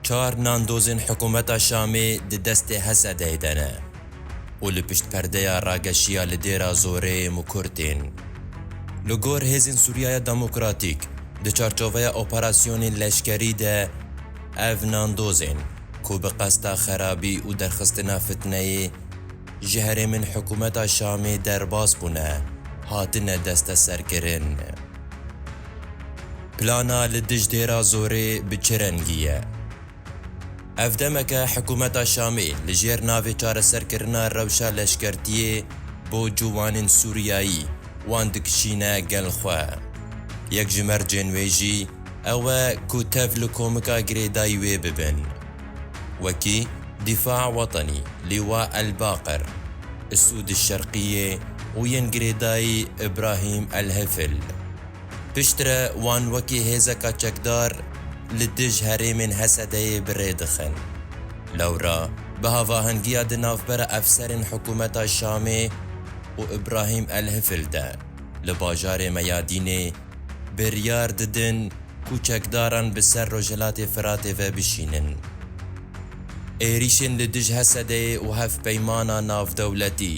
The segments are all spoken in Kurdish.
Çar nandozên hikûmeta Şamê di destê Hesedê de ne û li pişt perdeya rageşiya li Dêra Zorê Mukur tên. Li gor Hêzên Sûriyaya Demokratîk, di çarçoveya operasyonên leşkerî de ev nandozên ku bi qesta xerabî û derxistina fitneyê ji herêmên hikûmeta Şamê derbas bûne, hatine desteserkirin. Plana li dij dêra zorê bi çi rengî ye? Ev demeke hikûmeta Şamê li jêr navê çareserkirina rewşa leşkertiyê bo ciwanên Sûriyayî wan dikişîne gel xwe. Yek ji mercên wê jî ew e ku tev li komika girêdayî wê bibin. wekî Dîfa Wetenî, Lîwa El-Baqir, Isûd El-Şerqîyê û yên girêdayî Îbrahîm El-Hifl. Piştre wan wekî hêzeka çekdar li dij herêmên Hesedeyê bi rê dixin. Lewra bi havahengiya di navbera efserên hikûmeta Şamê û Îbrahîm El-Hifl de li bajarê Meyadînê, biryar didin ku çekdaran bi ser Rojhilatê Firatê ve bişînin. Êrîşên li dij Hesedeyê û hevpeymana navdewletî,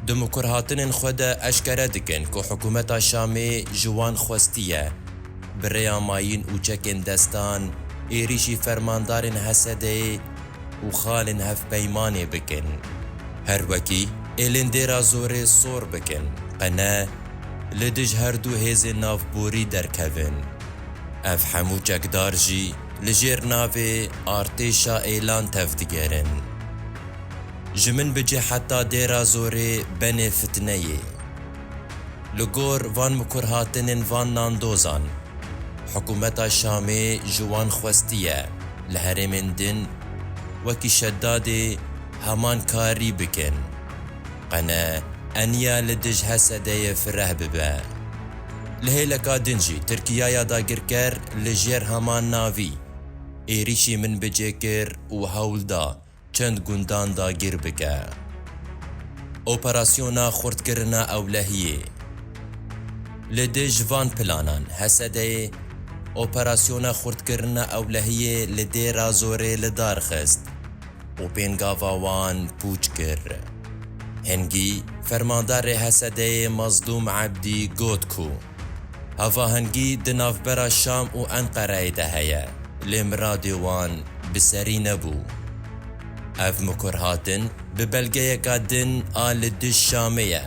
di mikurhatinên xwe de eşkere dikin ku hikûmeta Şamê ji wan xwestiye bi rêya mayîn û çekên destan êrîşî fermandarên Hesedeyê Û xalên hevpeymanê bikin. Her wekî êlên dêra zorê sor bikin, qe ne li dij her du hêzên navborî derkevin. Ev hemû çekdar jî li jêr navê Artêşa Êlan tev digerin. Ji min bicî heta dêra zorê benê fitneyê. Li gor van mikurhatinên van nandozan, hikûmeta Şamê ji wan xwestiye li herêmên din wekî Şeddadê heman karî bikin. Qene eniya li dij Hesedeyê fireh bibe. Li hêleka din jî Tirkiyaya dagirker li jêr heman navî êrîşî min bicêkir û hewl da çend gundan dagir bike. Operasyona xurtkirina ewlehiyê Li dê ji van planan, Hesedeyê operasyona xurtkirina ewlehiyê li dê Razorê li dar xist û pêngava wan pûç kir. Hingî, fermandarê Hesedeyê Mazlûm Ebdî got ku, Hevahengî di navbera Şam û Enqereyê de heye, lê miradê wan bi serî nebû. Ev mikurhatin bi belgeyeka din a li dij Şamê ye,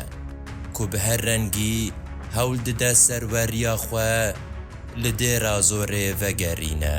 ku bi her rengî hewl dide serweriya xwe li Dêrazorê vegerîne.